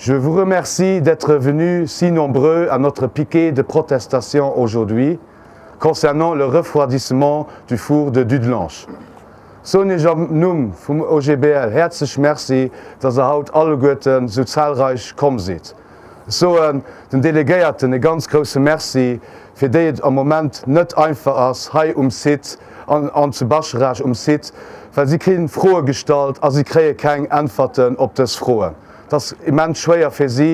Je vous remercie d'être venu si nombreux à notre piquet de protestation aujourd'hui concernant le refroidissement du four de Dudelange. Soen Iech am Numm vum OGBL häerzlech Merci, dass Der haut alleguerten sou zahlreich komm sidd. Ech soen den Delegéierten e ganz grousse Merci, fir déi et am Moment net einfach ass hei um Site an zu Bascharage um Site, well si kri Froe gestallt a si kréie keng Äntwerten op dës Froen. Et ass immens schwéier fir si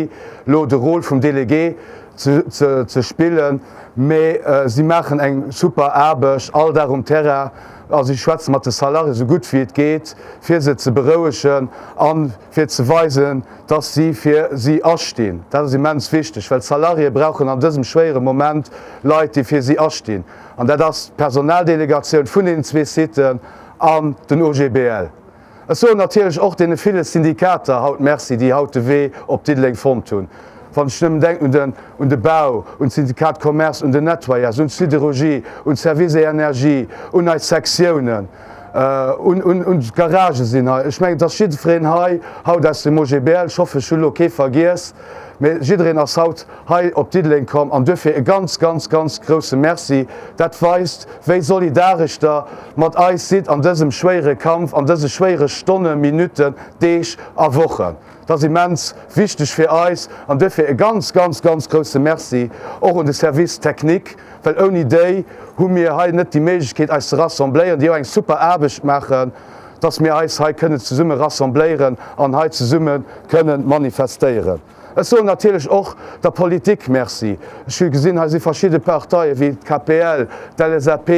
elo de Rôle vum Delegué ze spillen, mee si maachen eng super Aarbecht all Dag um Terrain a si schwätze mat de Salarié esou gutt wéi et geet, fir se ze berouegen a fir ze weisen, dass si fir si astinn. Dat ass immens wichteg, well d'Salariéë brauchen an dësem schwéiere Moment Leit, déi fir si astinn. An dat ass d'Personaldelegatioun vun deenen zwee Siten an den OGBL. Ech soen natierlech och deene ville Syndikater haut Merci, déi haut de Wee op Diddeleng fonnt hunn. Wann ech nëmmen denken un de Bau, un d'Syndicat Commerce, un den Nettoyage, un d'Sidérurgie, un d'Services et Energies, un eis Sektiounen, un d'Garage sinn. Ech mengen, et ass jiddwereen hei haut aus dem OGBL, ech hoffen, ech hu lo kee vergiess, mee jiddereen ass haut hei op Diddeleng komm an duerfir e ganz, ganz, ganz grousse Merci. Dat weist, wéi solidaresch Der mat eis sidd an dësem schwéiere Kampf, an dëse schwéiere Stonne, Minutten, Deeg a Wochen. Dat ass immens wichteg fir eis an duerfir e ganz, ganz, ganz grousse Merci och un de Service technique, well ouni déi hu mir hei net déi Méiglechkeet eis ze rassembléieren, déi och eng super Aarbecht maachen, dass mir eis hei kënnen zesumme rassembléieren an hei zesumme kënne manifestéieren. Ech soen natierlech och der Politik Merci. Ech hu gesinn, hei si verschidde Parteie wéi d'KPL, d'LSAP,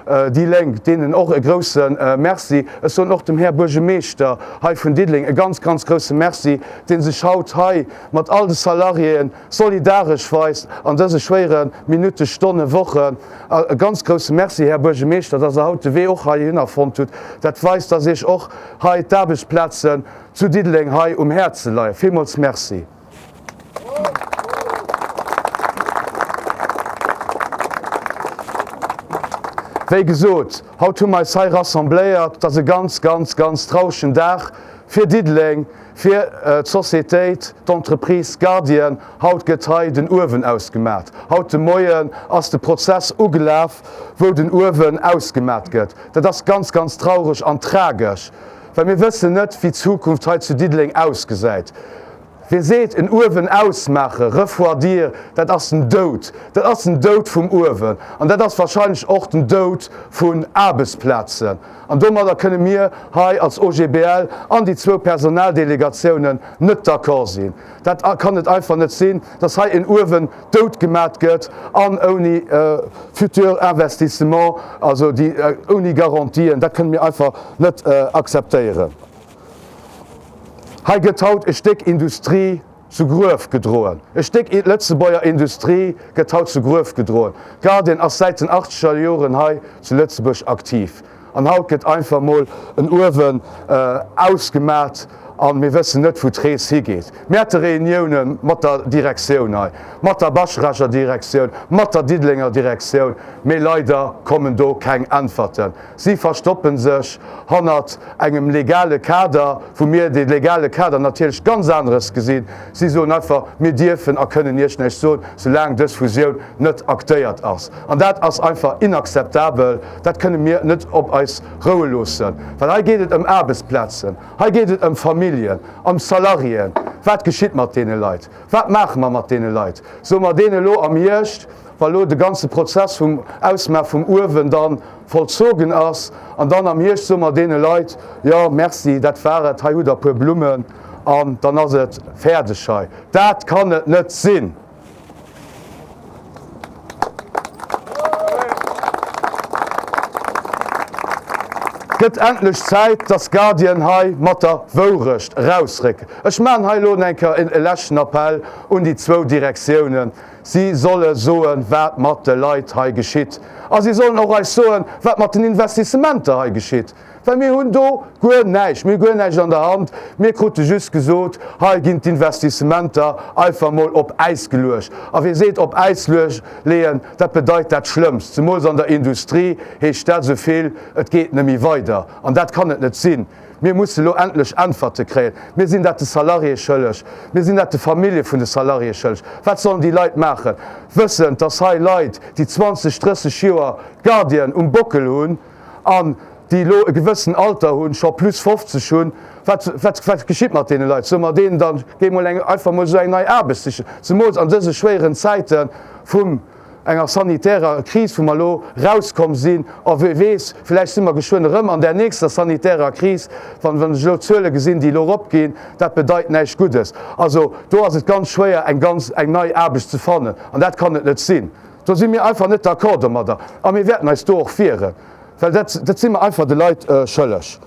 Déi Lénk, deenen och e grouse Merci. Ech soen och dem Här Buergemeeschter hei vun Diddeleng e ganz, ganz grouse Merci, dee sech haut hei mat all de Salariéen solidaresch weist an dëse schwéiere Minutte, Stonne, Wochen. E ganz grouse Merci, Här Buergemeeschter, dass Der haut de Wee och heihinner fonnt hutt. Dat weist, dass Iech och hei d'Aarbechtsplazen zu Diddeleng hei um Häerze leien. Villmools Merci. Wéi gesot, haut hu mer eis hei rassembléiert. Et ass e ganz, ganz, ganz trauregen Dag fir Diddeleng, fir d'Societéit, d'Entreprise Guardian. Haut gëtt hei den Uewen ausgemat. Haut de Moien ass de Prozess ugelaf, wou den Uewen ausgemat gëtt. Dat ass ganz, ganz traureg an tragesch. Well mir wëssen net, wéi d'Zukunft hei zu Diddeleng ausgesäit. Wee seet, en Uewen ausmaachen, refroidir, dat ass den Doud. Dat ass den Doud vum Uewen an dat ass wahrscheinlech och den Doud vun Aarbechtsplazen. An domadder kënne mir hei als OGBL an déi zwou Personaldelegatiounen net d'accord sinn. Dat kann et einfach net sinn, dass hei en Uewen dout gemat gëtt an ouni futur Investissement, also déi ouni Garantien, dat kënne mir einfach net akzeptéieren. Hei gëtt haut e Stéck Industrie zu Gruef gedroen. E Stéck Lëtzebuerger Industrie gëtt haut zu Gruef gedroen. Guardian ass säit den achtzeger Joren hei zu Lëtzebuerg aktiv. An haut gëtt einfach mol en Uewen ausgemat a mir wëssen net, wou d'Rees higeet. Mir hätte Reunioune mat der Direktioun hei, mat der Bascherecher Direktioun, mat der Diddelenger Direktioun, mee leider kommen do keng Äntwerten. Si verstoppe sech hannert engem legale Kader, wou mir dee legale Kader natierlech ganz aneres gesinn. Si soen einfach, mir dierfen a kënnen Iech näischt soen, soulaang dës Fusioun net actéiert ass. An dat ass einfach inakzeptabel. Dat kënne mir net op eis roue loossen, well hei geet et ëm Aarbechtsplazen, hei geet et ëm Familljen, ëm Salariéen. Wat geschitt mat deene Leit? Wat maache mer mat deene Leit? Soe mer deene elo am Hierscht, wa elo de ganze Prozess vum Ausmaache vum Uewen da vollzogen ass, an dann am Hierscht soe mer deene Leit, jo merci, dat war et, hei hutt der e puer Blummen an dann ass et fäerdeg hei? Dat kann et net sinn! Gëtt endlech Zäit dass Guardian hei mat der Wourecht erausrécken. Ech maachen hei elo enker en leschten Appell un déi zwou Direktiounen, si solle soen wat mat de Leit hei geschitt a si sollen och eis soen wat mat den Investissementer hei geschitt. Well mir hunn do guer näischt, mir hu guer näischt an der Hand. Mir krute just gesot, hei ginn d'Investissementer einfach emol op Äis geluecht. A wie seet op Äis leeën, dat bedeit dat Schlëmmst. Zemools an der Industrie heescht dat esou vill, et geet neméi weider. An dat kann et net sinn. Mir musse elo endlech Äntwerte kréien. Mir sinn dat de Salariée schëlleg. Mir sinn dat de Famillje vun de Salariée schëlleg. Wat sollen déi Leit maachen, wëssend, dass hei Leit, déi 20, 30 Joer Gardien um Bockel hunn, an déi elo e gewëssen Alter hunn, scho plus 50 hunn, wat geschitt mat deene Leit? Soe mer deenen dann, géi mol eng, einfach mol esou eng nei Aarbecht sichen, zemools an dëse schwéieren Zäite vum enger sanitärer Kris, wou mer elo erauskomm sinn, a wie weess, vläicht si mer geschwënn erëm an där nächster sanitärer Kris, wann ech elo d'Zuele gesinn, déi elo eropginn, dat bedeit näischt Guddes. Also do ass et ganz schwéier, eng ganz, eng nei Aarbecht ze fannen, an dat kann et net sinn. Do si mir einfach net d'accord domadder a mir wäerten eis do och wieren, well dat, dat si mer einfach de Leit schëlleg.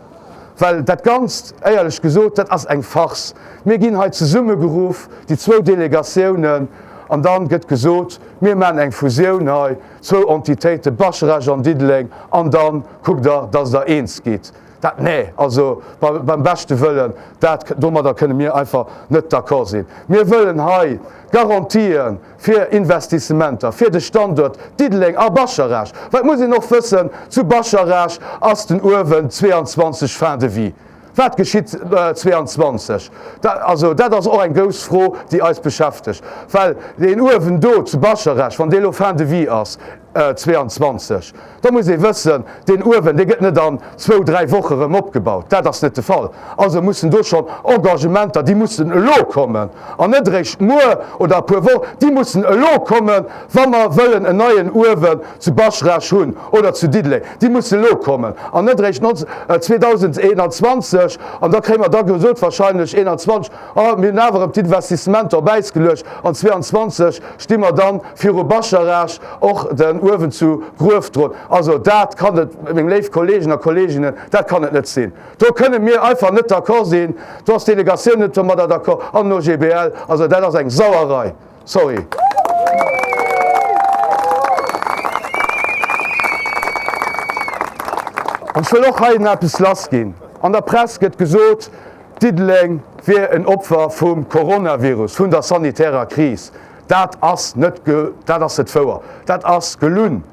Well dat Ganzt, éierlech gesot, dat ass eng Farce. Mir ginn hei zesummegeruff, déi zwou Delegatiounen, an da gëtt gesot, mir maachen eng Fusioun hei, zwou Entitéiten, Baschrage an Diddeleng, an da kuckt Der, dass Der eens gitt. Dat, nee, also bei, beim beschte Wëllen, dat, domadder kënne mir einfach net d'accord sinn. Mir wëllen hei Garantien, fir Investissementer fir de Standuert Diddeleng a Bascharage, well et muss een och wëssen, zu Bascharage ass den Uewen 22 fin de vie. Wat geschitt 22? Dat, also dat ass och eng grouss Fro, déi eis beschäftegt, well deen Uewen do zu Bascharage, wann dee elo fin de vie ass, 22, da muss ee wëssen, deen Uewen, dee gëtt net an zwou, dräi Woche erëm opgebaut. Dat ass net de Fall. Also mussen do schonn Engagementer, déi mussen elo kommen an net eréischt muer oder e puer Wochen, déi mussen elo kommen, wa mer wëllen en neien Uewen zu Baschraasch hunn oder zu Diddeleng. Déi mussen elo kommen an net eréischt 2021. An da kréie mer da gesot, wahrscheinlech 21, An mir hunn awer erëm d'Investissementer op Äis geluecht an 22 sti mer dann viru Bascharage och den Uewen zu Gruef drun. Also dat kann et, meng léif Kolleegen a Kolleeginnen, dat kann et net sinn. Do kënne mir einfach net d'accord sinn. Do ass d'Delegatioun net domadder d'accord an den OGBL. Also dat ass eng Sauerei, sorry. An ech wëll och hei eppes lassginn. An der Press gëtt gesot, Diddeleng wier en Opfer vum Coronavirus, vun der sanitärer Kris. Dat ass net ge dat ass net wouer. Dat ass gelunn.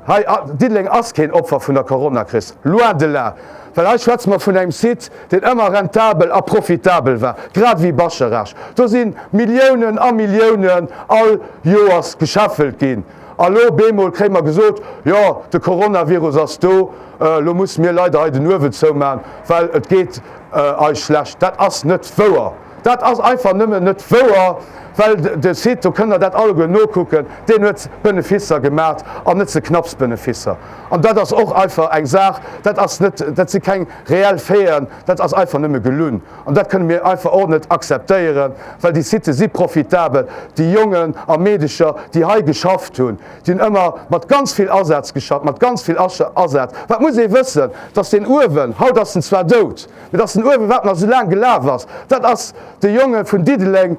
Hei a Diddeleng ass keen Opfer vun der Coronakris. Loin de là. Well hei schwätze mer vun engem Site, deen ëmmer rentabel a profitabel war, grad ewéi Bascherasch. Do si Milliounen a Milliounen all Joers gescheffelt ginn. A lo op eemol kréie mer gesot, jo, de Coronavirus ass do, elo musse mir leider hei den Uewen zouman, well et geet eis schlecht. Dat ass net wouer! Dat ass einfach nëmmen net wouer, well de Site, do kënnt Der dat alleguer nokucken, deen huet Beneficer gemat an net ze knapps Beneficer. An dat ass och einfach eng Saach, dat ass net, dat si keng reell Faiten, dat ass einfach nëmme gelunn. An dat kënne mir einfach och net akzeptéieren, well déi Sitë si profitabel. Déi Jongen a Meedecher, déi hei geschafft hunn, déi hunn ëmmer mat ganz vill Asaz geschafft, mat ganz vill Asaz. Wat muss ee wëssen, dass deen Uewen, haut ass en zwar dout, mee dass den Uewe, wat nach esou laang gelaf ass, dat ass de Jonge vun Diddeleng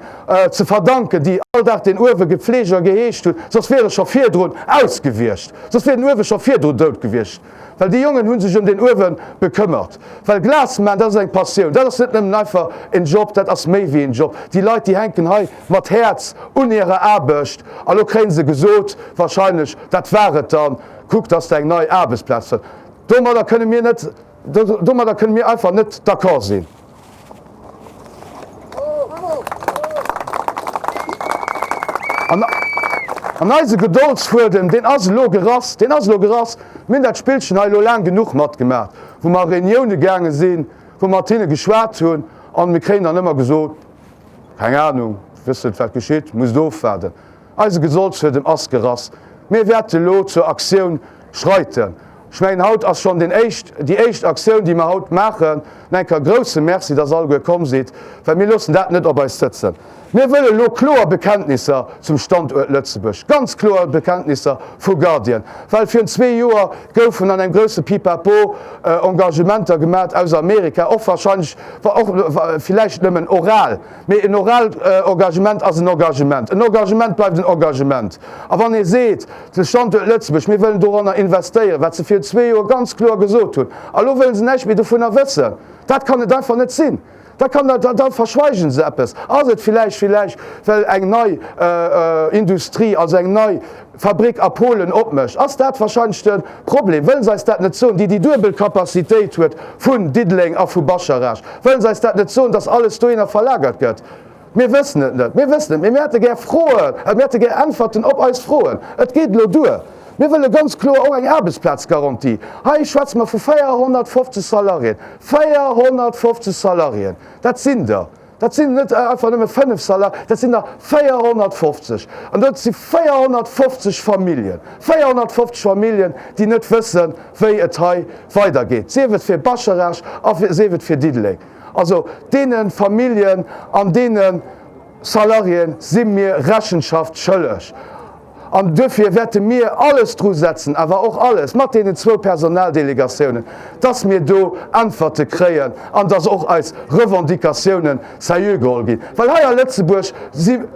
ze verdanken, déi all Dag deen Uewe gefleegt a geheescht hunn, soss wier e scho virdrun ausgewiescht, soss wier den Uewe scho virdru dout gewiescht. well déi Jongen hu sech ëm deen uewe gekëmmert. Well Glas maachen, dat ass eng Passioun, dat ass net nëmmen einfach en Job, dat ass méi wéi en Job. Déi Leit, déi hänken hei mat Häerz un hirer Aarbecht an lo kréie se gesot, wahrscheinlech, dat war et dann, kuck, dass de eng nei Aarbechtsplaz fënns. Domadder kënne mir net, domadder kënne mir einfach net d'accord sinn. An eise Gedoldsfuedem, deen ass elo gerass, deen ass elo gerass. Mir hunn dat Spillchen hei elo laang genuch matgemaach, wou mer a Reunioune gaange sinn, wou mer mat hinne geschwat hunn. An mir kréien dann ëmmer gesot, Keng Anung, wësst net, wat geschitt, musst ofwaarden. Eise Gesolls huet en Ass gerass. Mir wäerte lo zur Aktioun schreiten. Ech mengen haut ass schonn deen éischt, déi éischt Aktioun déi mer haut maachen. Nach eng Kéier grousse Merci, dass alleguer komm sidd, well mir loossen dat net op eis sëtzen. Mir wëlle lo kloer Bekenntnisser zum Standuert Lëtzebuerg, ganz kloer Bekenntnisser vu Guardian, well virun zwee Joer goufen an engem grousse Pipapo Engagementer gemat aus Amerika, och wahrscheinlech, och wa villäicht nëmmen oral. Mee en oraalt Engagement ass en Engagement. En Engagement bleift en Engagement. A wann ee seet, de Standuert Lëtzebuerg, mir wëllen doranner investéieren, wat se vir zwee Joer ganz kloer gesot hunn, a lo wëlle se näischt méi dovunner wëssen, dat kann et einfach net sinn. Da kann dat, da verschweigen se eppes. Ass et villäicht, villäicht well eng nei Industrie, also eng nei. Fabrick a Polen opmécht, ass dat wahrscheinlech de Problem. Wëllen se eis dat net soen, déi déi duebel Capacitéit huet vun Diddeleng a vu Bascharage? Wëllen se eis dat net soen, dass alles dohinner verlagert gëtt? Mir wëssen et net. Mir wëssen et, mee mir hätte gär Froen, mir hätte gär Äntwerten op eis Froen. Et geet elo duer. Mir wëlle ganz kloer och eng Aarbechtsplazgarantie. Hei schwätze mer vu 450 Salariéen. 450 Salariéen, dat sinn der. Dat sinn net einfach nëmme 5 Salaire, dat sinn der 450! An dat si 450 Familljen, 450 Familljen, déi net wëssen, wéi et hei weidergeet, sief et fir Bascharage a sief et fir Diddeleng. Also deene Familljen an deene Salariéen si mir Rechenschaft schëlleg. An duerfir wäerte mir alles dru setzen, awer och alles mat deenen zwou Personaldelegatiounen, dass mir do Äntwerte kréien an dass och eis Revendicatiounen seriö geholl ginn. Well hei a Lëtzebuerg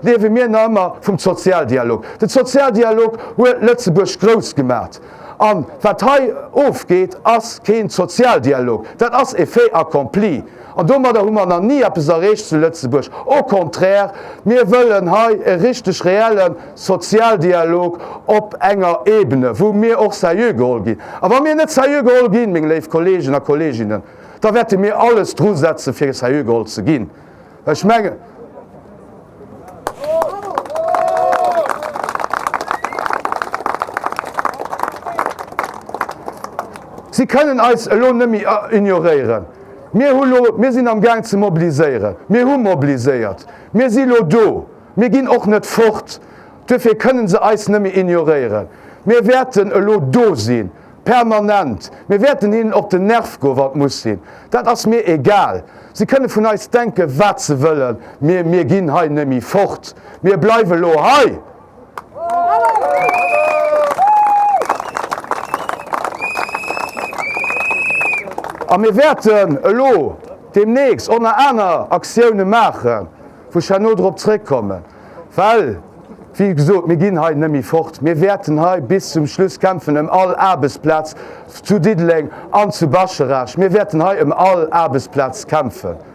liewe mir nach ëmmer vum Sozialdialog. De Sozialdialog huet Lëtzebuerg grouss gemaacht. A wat hei ofgeet, ass keen Sozialdialog, dat ass e Fait accompli. An domadder hu mer nach ni eppes erreecht zu Lëtzebuerg. Au contraire, mir wëllen hei e richteg reelle Sozialdialog op enger Ebene, wou mir och seriö geholl ginn. A wa mir net seriö geholl ginn, meng léif Kolleegen a Kolleeginnen, da wäerte mir alles drusetzen, fir seriö geholl ze ginn. Well ech mengen, si kënnen eis elo net méi ignoréieren. Mir hu lo, mir sinn am Gaang ze mobiliséieren, mir hu mobiliséiert, mir si lo do, mir ginn och net fort, duerfir kënnen se eis nëmme ignoréieren. Mir wäerten elo do sinn, permanent, mir wäerten hinnen op den Nerv goen, wann et muss sinn, dat ass mir egal. Se kënne vun eis denken, wat se wëllen, mir, mir ginn hei nëmme fort, mir bleiwe lo hei! A mir wäerten elo deemnächst och nach aner Aktioune maachen, wou ech herno drop zrëckkommen, well, wéi gesot, mir ginn hei net méi fort. Mir wäerten hei bis zum Schluss kämpfen ëm all Aarbechtsplaz zu Diddeleng an zu Bascherasch. Mir wäerten hei ëm all Aarbechtsplaz kämpfen.